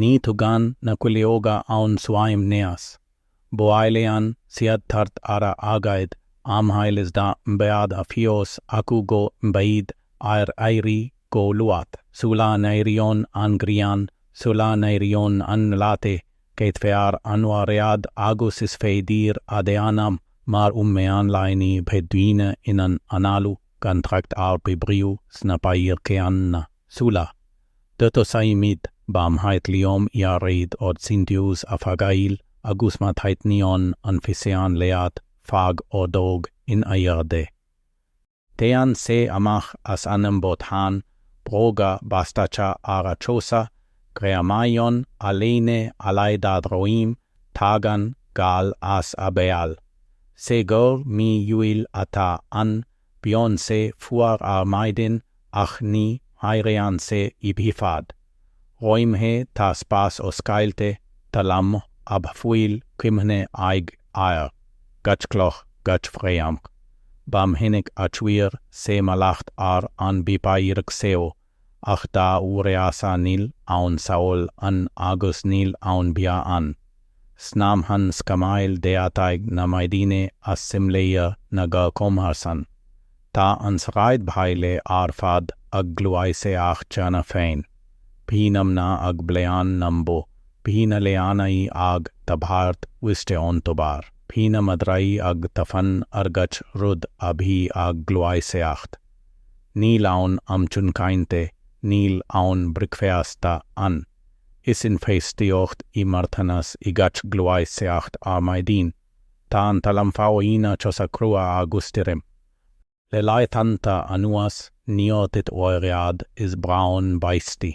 Ní thugann na cuileoga aon suaimhneas. Buaileann siad thart ar a aghaidh amhail is dá mbeadh a fhios acu go mbeidh air éirí go luath. Sula n-éiríonn an ghrian, sula n-éiríonn an lá te, caitfear an oiread agus is féidir a dhéanam mar um meán lae ní bheidh daoine in ann análú gan trácht ar oibriú sna páirceanna. Sula. dtosaímid ba mhaith liom iarraidh ort sintiús a fháil agus má thaitníonn an físeán leat fág ordóg in airde. Téann sé amach as an mbothán bróga bastacha ar a chosa, greamaíonn a léine allais dá dhroim, tagann gal as a bhéal. Cé gur mí Iúil atá ann, Bíonn sé fuar ar maidin ach ní mhaireann sé i bhfad. Roimhe tá spás oscailte talamh a bhfuil cuimhne aige air gach cloch gach fréamh. Ba mhinic a chuir sé mallacht ar an bpáirc seo ach dá uireasa níl aon saol ann agus níl aon bhia ann. Snámhann scamaill deataigh na maidine as simléir na gcomharsan. Tá an sráidbhaile ar fad ag gluaiseacht cheana féin. Bhí na mná ag bleán na mbó, bhí na leanaí ag tabhairt uisce ón tobar, bhí na madraí ag tafann ar gach rud a bhí ag gluaiseacht. Níl aon am chun cainte, níl aon bhricfeasta ann. Is infheistíocht i marthanas í gach gluaiseacht ar maidin. Tá an talam faoina chosa crua agus tirim. Le laethanta anuas níor thit oiread is braon báistí.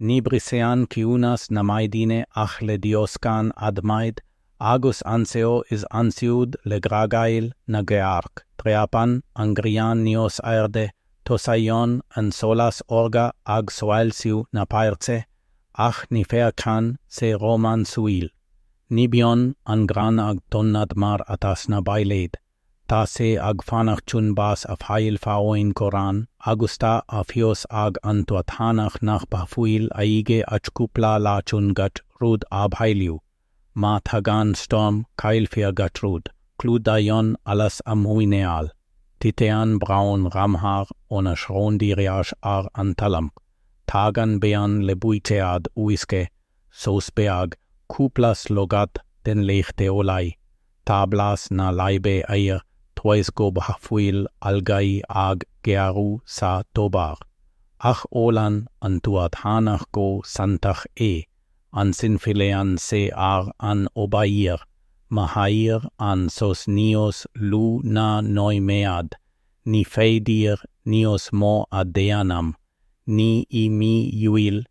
Ní bhriseann ciúnas na maidine ach le dioscán adhmaid agus anseo is ansiúd le grágaíl na gcearc, dreapann an grian níos airde, tosaíonn an solas órga ag soilsiú na páirce, ach ní fhéachann sé rómánsúil. Ní bhíonn an grán ag tonnadh mar atá sna bailéid. Tá sé ag fanacht chun bás a fháil faoin gcorrán agus tá a fhios ag an tuathánach nach bhfuil aige ach cúpla lá chun gach rud a bhailiú. Má thagann stoirm, caillfear gach rud. Clúdaíonn allas a mhuineál. Titeann braon ramhar óna shrón díreach ar an talamh. Tagann bean le buicéad uisce, sos beag, cúpla slogadh den leacht eolaí, Tá blas na láibe air toisc go bhfuil algaí ag géarú sa tobar. Ach ólann an tuathánach go santach é, ansin filleann sé ar an obair, mhair an sos níos lú ná nóiméad, ní féidir níos mó a dhéanamh, ní i mí Iúil, ní.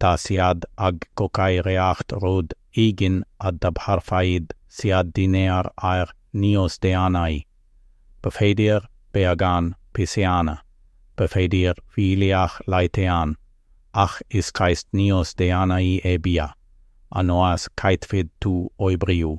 Tá siad ag cócaireacht rud éigin a dtabharfaidh siad dinnéar air níos déanaí. B'fhéidir beagán piseanna, b'fhéidir fuílleach leitean, ach is ceist níós déanaí é bia, anois caithfidh tú oibriú.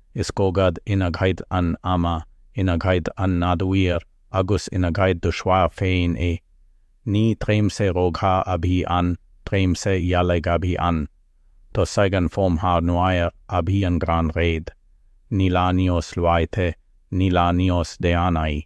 is cogadh in aghaidh an ama, in aghaidh an nádúir agus in aghaidh do choirp féin é. Ní tréimhse rogha a bhí ann, tréimhse dhealaigh a bhí ann. Thosaigh an fómhar nuair a bhí an grán réidh. Ní lá níos luaithe, ní lá níos déanaí.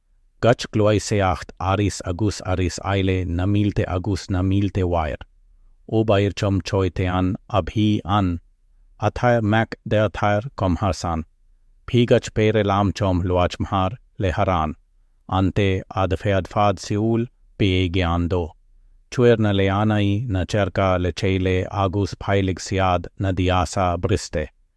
gach gluaiseacht arís agus arís eile na mílte agus na mílte uair, obair chomhchoiteann a bhí ann, athair mac deartháir comharsan, bhí gach péire lámh chomh luachmhar le harán an té a d'fhéadfadh siúl bhí i gceann dó. Chuir na leanaí na cearca le chéile agus bhailigh siad na diasa briste.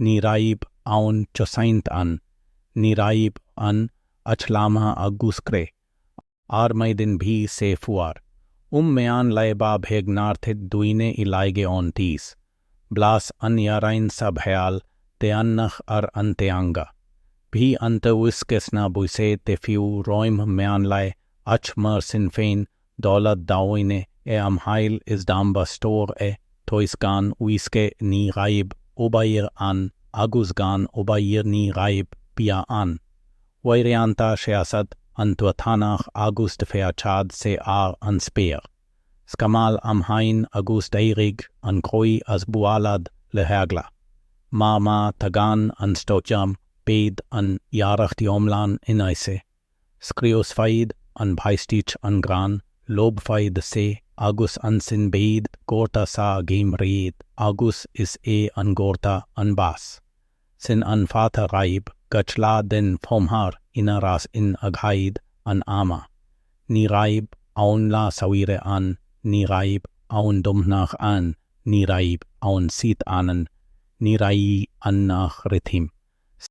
Ní raibh aon chosaint ann, ní raibh ann ach lámha agus cré, ar maidin bhí sé fuar. Um meán lae ba bheag nár thit duine i laige ón teas. Blas an iarainn sa bhéal deannach ar an teanga. Bhí an t-uisce sna buicéid te fiú roimh mheán lae ach mar sin féin D'óladh daoine é amhail is dá mba stór é, toisc gan uisce ní raibh obair ann agus gan obair ní raibh bia ann. Uaireanta sheasadh an tuathánach agus d'fhéachadh sé ar an spéir. Scamall amháin agus d'éirigh an croí as bualadh le heagla. Mar má thagann an stoirm beidh an iarracht iomlán in aisce. Scriosfaidh an bháisteach an grán, lobhfaidh sé, agus ansin beidh gorta sa gheimhreadh agus is é an gorta an bás. Sin an fáth a raibh gach lá den fhómhar ina rás in aghaid an ama. Ní raibh aon lá saoire ann, ní raibh aon Domhnach ann, ní raibh aon síocháin ann, ní raibh ann ach rithim. S.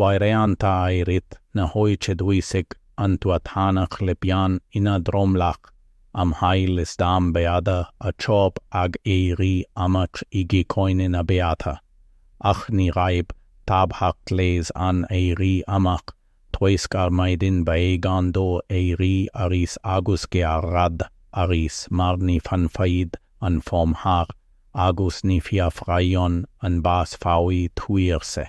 Uaireanta i rith na hoíche dhúisigh an tuathánach le pian ina dhromlach, amhail is dá mbeadh a chorp ag éirí amach i gcoinne na beatha. Ach ní raibh tábhacht leis an éirí amach, toisc ar maidin b'éigean dó éirí arís agus gearradh arís mar ní fhanfaidh an fómhar agus ní fhiafraíonn an bás faoi thuirse.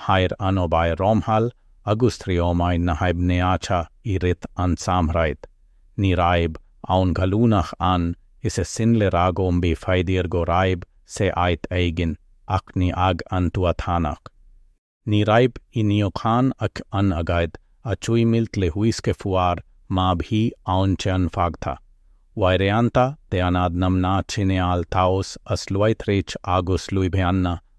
mhair an obair rómhall agus thriomaigh na haibhneacha i rith an tsamhraidh. Ní raibh aon ghallúnach ann is é sin le rá go mb'fhéidir go raibh sé áit éigin ach ní ag an tuathánach. Ní raibh i níochán ach an aghaidh a chuimilt le huisce fuar má bhí aon cheann fágtha. Uaireanta dhéanadh na mná cineál taos as luaithreach agus luibheanna.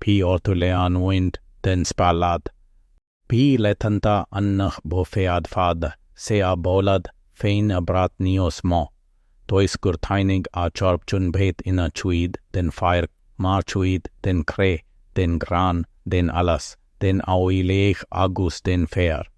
Bhí orthu leanúint den spealadh. Bhí laethanta ann nach bhféadfadh sé a bholadh féin a bhrath níos mó. Toisc gur tháinig a chorp chun bheith ina chuid den pháirc mar chuid den chré, den ghrán, den allas, den aoileach agus den fhéar.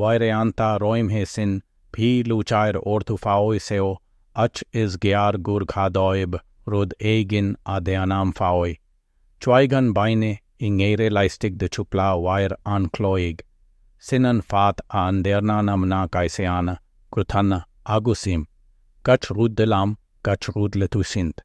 Uaireanta roimhe sin bhí lúcháir orthu faoi seo ach is gearr gur ghá dóibh rud éigin a dhéanamh faoi. Chuaigh an bainne i ngéire laistigh de chúpla uair an chloig. Sin an fáth a ndearna na mná cáiseanna, gruthanna agus im. Gach rud de láimh, gach rud le tuiscint.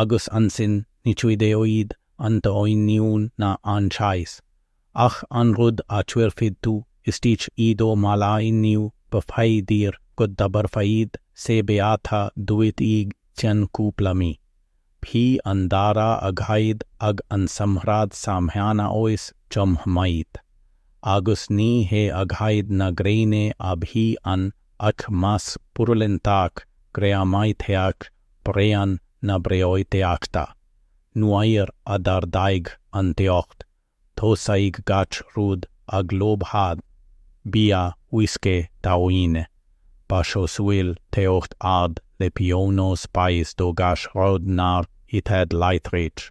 agus ansin ní chuideoidh an t-oinniún ná an cháis ach an rud a chuirfidh tú istigh i do mhála inniu b'fhéidir go dtabharfaidh sé beatha duit i gceann cúpla mí. Bhí an dara aghaidh ag an samhradh sa Mheánaois chomh maith, agus ní hé aghaidh na gréine a bhí ann ach masc purulentach greamaitheach, bréan na breoiteachta. Nuair a d'ardaigh an teocht, thosaigh gach rud ag lobhadh, bia, uisce, daoine. Ba chosúil teocht ard le pionós báis do gach rud nár itheadh láithreach.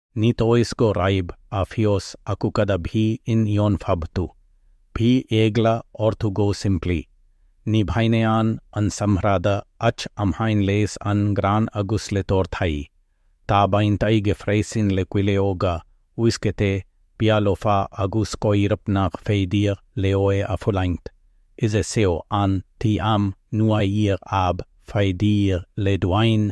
Ní toisc go raibh a fhios acu cad a bhí in ionfhabhtú. Bhí eagla orthu go simplí. Ní bhaineann an samhradh ach amháin leis an ngrán agus le torthaí. Tá baint aige freisin le cuileoga, uisce te, bia lofa agus coirp nach féidir leo é a fhulaingt. Is é seo an t-am nuair ab fhéidir le duine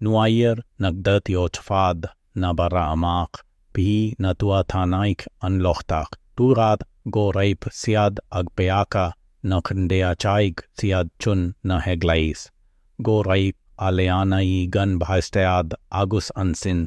Nuair nach dtiocfadh na barra amach, bhí na tuathánaigh an lochtach, dúradh go raibh siad ag peaca nach ndeachaigh siad chun na heaglaise, go raibh a leanaí gan bhaisteadh agus ansin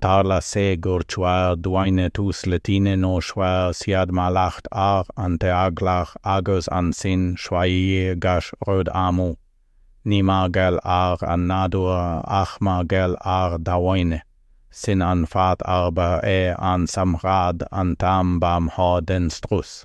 Tharla sé gur chuir duine tús le tine nó chuir siad mallacht ar an teaghlach agus ansin chuaigh gach rud amú. Ní mar gheall ar an nádúr ach mar gheall ar dhaoine. Sin an fáth arbh é an samhradh an t-am ba mhó den strus.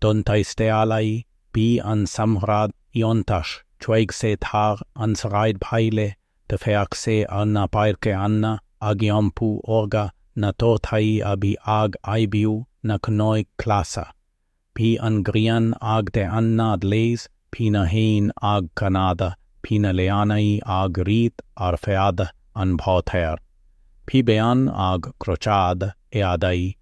Don taistealaí, bhí an samhradh iontach. Chuaigh sé thar an sráidbhaile d'fhéach sé ar na páirceanna ag iompú órga na torthaí a bhí ag aibiú na cnoic ghlasa. Bhí an ghrian ag teannadh leis, bhí na héin ag canadh, bhí na leanaí ag rith ar feadh an bhóthair. Bhí bean ag crochadh éadaí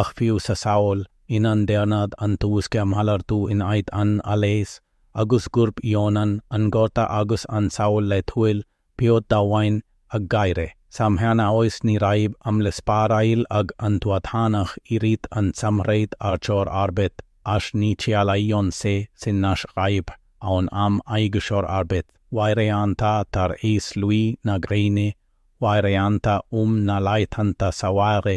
ach fiú sa saol ina ndearnadh an t-uisce a mhalartú in áit an allais, agus gurb ionann an gorta agus an saol laethúil bhíodh daoine ag gáire, sa mheánaois ní raibh am le spáráil ag an tuathánach i rith an tsamhraidh ar chor ar bith ach ní chiallaíonn sé sin nach raibh aon am aige chor ar bith, uaireanta tar éis luí na gréine, uaireanta um na laethanta saoire.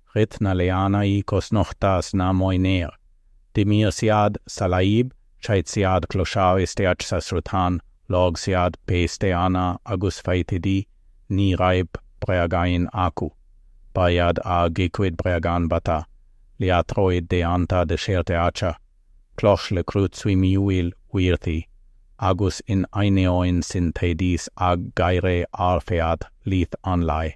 Rith na leanaí cosnochta sna móinéir. D'imir siad sa láib, chaith siad clocha isteach sa sruthán, lorg siad péisteanna agus feithidí, ní raibh bréagáin acu. Ba iad a gcuid bréagán bata, liathróid déanta de cheirteacha, cloch le cruth suimiúil uirthi, agus in ainneoin sin théidís ag gáire ar feadh leath an lae.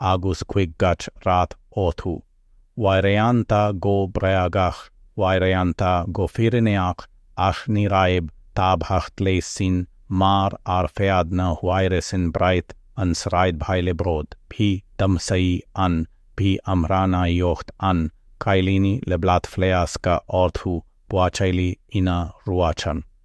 agus ghuigh gach rath orthu, uaireanta go bréagach uaireanta go fírinneach ach ní raibh tábhacht leis sin mar ar feadh na huaire sin bhraith an sráidbhaile bród bhí damhsaí ann bhí amhránaíocht ann cailíní le bláthfhleasca orthu buachaillí ina ruachan.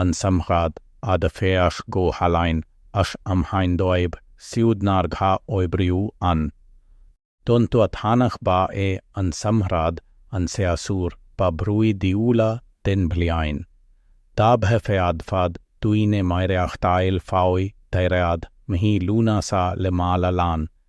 an samhradh a d'fhéach go hálainn ach amháin dóibh siúd nár ghá oibriú ann. Don tuathánach ba é an samhradh an séasúr ba bhrúidiúla den bhliain. Dá bhféadfadh duine maireachtáil faoi dheireadh mhí Lúnasa le mála lán